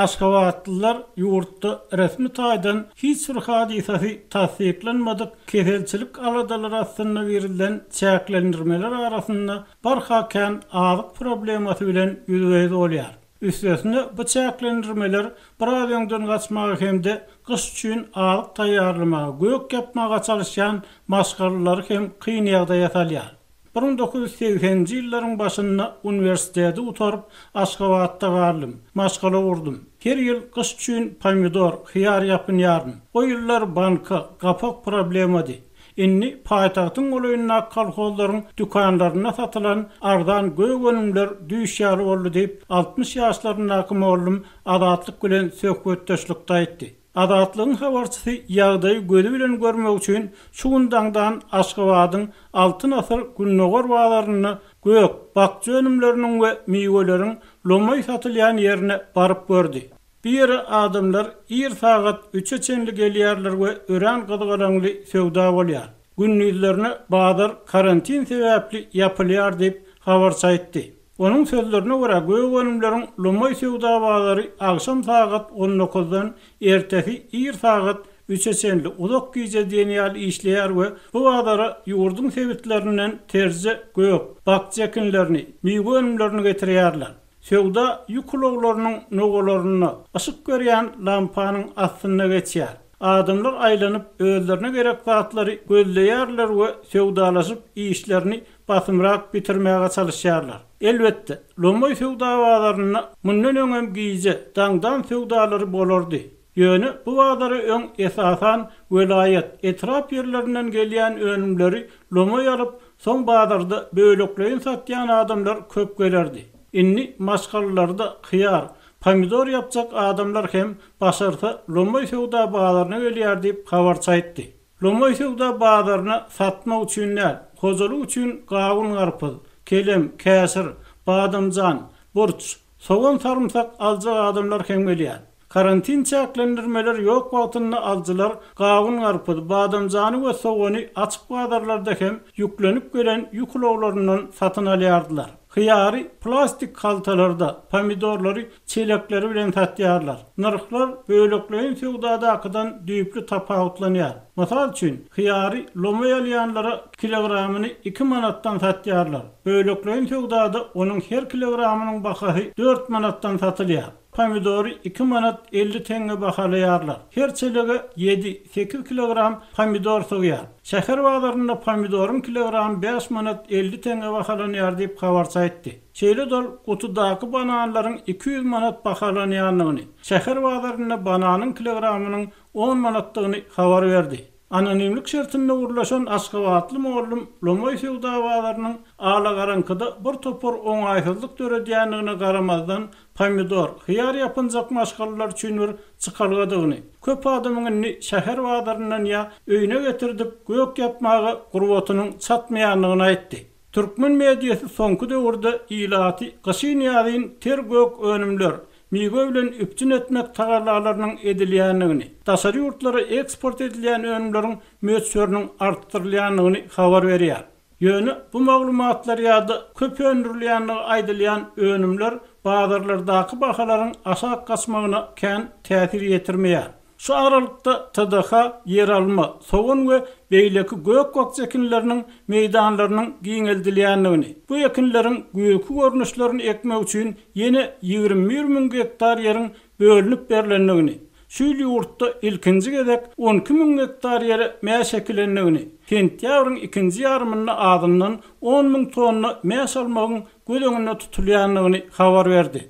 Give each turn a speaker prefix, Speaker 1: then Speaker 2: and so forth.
Speaker 1: Aşgabatlylar ýurtda resmi taýdan hiç bir hadysasy tassyklanmadyk keselçilik aladalary astynda girizilen çäklendirmeler arasynda barha kän azyk problemasy bilen ýüzbe-ýüz bolýar. Üstesine bu çäklendirmeler biraz öňden gaçmaga hem-de gyş üçin azyk taýýarlamaga gök ýapmaga çalyşýan maşgalalary hem kyn ýagdaýa salýar. Bir müň dokuz ýüz segseninji ýyllaryň başynda uniwersiteti gutaryp, Aşgabatda galdym. Maşgala gurdum. Her ýyl gyş üçin pomidor, hyýar ýapynýardym. O ýyllar banka, gapak problemady. Indi paýtagtyň golaýyndaky kolhozlaryň dükanlarynda satylan arzan gök önümler düýş ýaly boldy diýip, altmyş ýaşlaryndaky mollum Azatlyk bilen söhbetdeşlikde aýtdy. Azatlygyň habarçysy ýagdaýy gözi bilen görmek üçin şu gün daňdan Aşgabadyň Altyn asyr gündogar bazarynda gök, bakja önümleriniň we miweleriň lomaý satylýan ýerine baryp gördi. Bu ýere adamlar ir sagat üçe çenli gelýärler we örän gyzgalaňly söwda bolýar. Gündizlerine bazar karantin sebäpli ýapylýar diýip, habarçy aýtdy. Onuň sözlerine görä, gök-önümleriň lomaý söwda bazary agşam sagat on dokuzdan ertesi ir sagat üçe çenli uzak gije diýen ýaly işleýär we bu bazara ýurduň sebitlerinden terje gök, bakja ekinlerini, miwe önümlerini getirýärler. Söwda ýük ulaglarynyň nowalarynda, yşyk berýän lampanyň astynda geçýär. Adamlar aýlanyp, özlerine gerek zatlary gözleýärler we söwdalaşyp, işlerini basymrak bitirmäge çalyşýarlar. Elbetde, Lomoý söwda bazarynda mundan öňem gije, daňdan söwdalary bolardy. Ýöne bu bazara öň, esasan, welaýat, etrap ýerlerinden gelýän önümleri lomoý alyp, soň bazarda bölekleýin satýan adamlar köp gelerdi. Indi maşgalalarda hyýar, pomidor ýapjak adamlar hem, başarsa, Lomoý söwda bazaryna gelýär diýip, habarçy aýtdy. Lomaý söwda bazaryna satmak üçin däl, hojalyk üçin gawun-garpyz, kelem, käşir, badamjan, burç, sogan-sarymsak aljak adamlar hem gelýär. Karantin çäklendirmeleri ýok wagtynda alyjylar gawun-garpyz, badamjany we sogany açyk bazarlarda hem ýüklenip gelen ýük ulaglaryndan satyn alýardylar. Hyýary plastik haltalarda, pomidorlary çelekleri bilen satýarlar. Nyrhlar bölekleýin söwdadakydan düýpli tapawutlanýar. Mysal üçin, hyýary lomaý alýanlara kilogramyny iki manatdan satýarlar. Bölekleýin söwdada onuň her kilogramynyň bahasy dört manatdan satylýar. Pomidory iki manat elli teňňe bahalaýarlar. Her çelege ýedi, sekiz kilogram pomidor sygýar. Şäher bazarynda pomidoryň kilogramy bäş manat elli teňňe bahalanýar diýip, habarçy aýtdy. Şeýle-de ol gutudaky bananlaryň iki ýüz manat bahalanýandygyny, şäher bazarynda bananyň kilogramynyň on manatdygyny habar berdi. Anonimlik şertinde gürleşen aşgabatly mugallym lomaý söwda bazarynyň alagaraňkyda bir topar oňaýsyzlyk döredýändigine garamazdan, pomidor, hyýar ýapynjak maşgalalar üçin bir çykalgadygyny, köp adamyň indi şäher bazaryndan ýa öýüne getirdip gök ýapmaga gurbatynyň çatmaýandygyny aýtdy. Türkmen mediasy soňky döwürde ilaty gyşyn-ýazyn ter gök önümler, miwe bilen üpjün etmek tagallalarynyň edilýändigini, daşary ýurtlara eksport edilýän önümleriň möçberiniň artdyrylýandygyny habar berýär. Ýöne bu maglumatlar ýa-da köp öndürilýändigi aýdylýan önümler bazarlardaky bahalaryň aşak gaçmagyna kän täsir ýetirmeýär. Şu aralykda TDH ýeralma, sogan we beýleki gök-bakja ekinleriniň meýdanlarynyň giňeldilýändigini, bu ekinleriň güýrki görnüşlerini ekmek üçin ýene ýigrimi bir müň gektar ýeriň bölünip berlendigini, şu ýyl ýurtda ilkinji gezek on iki müň gektar ýere mäş ekilendigini, sentýabryň ikinji ýarymynda azyndan on müň tonna mäş almagyň göz öňünde tutulýandygyny habar berdi.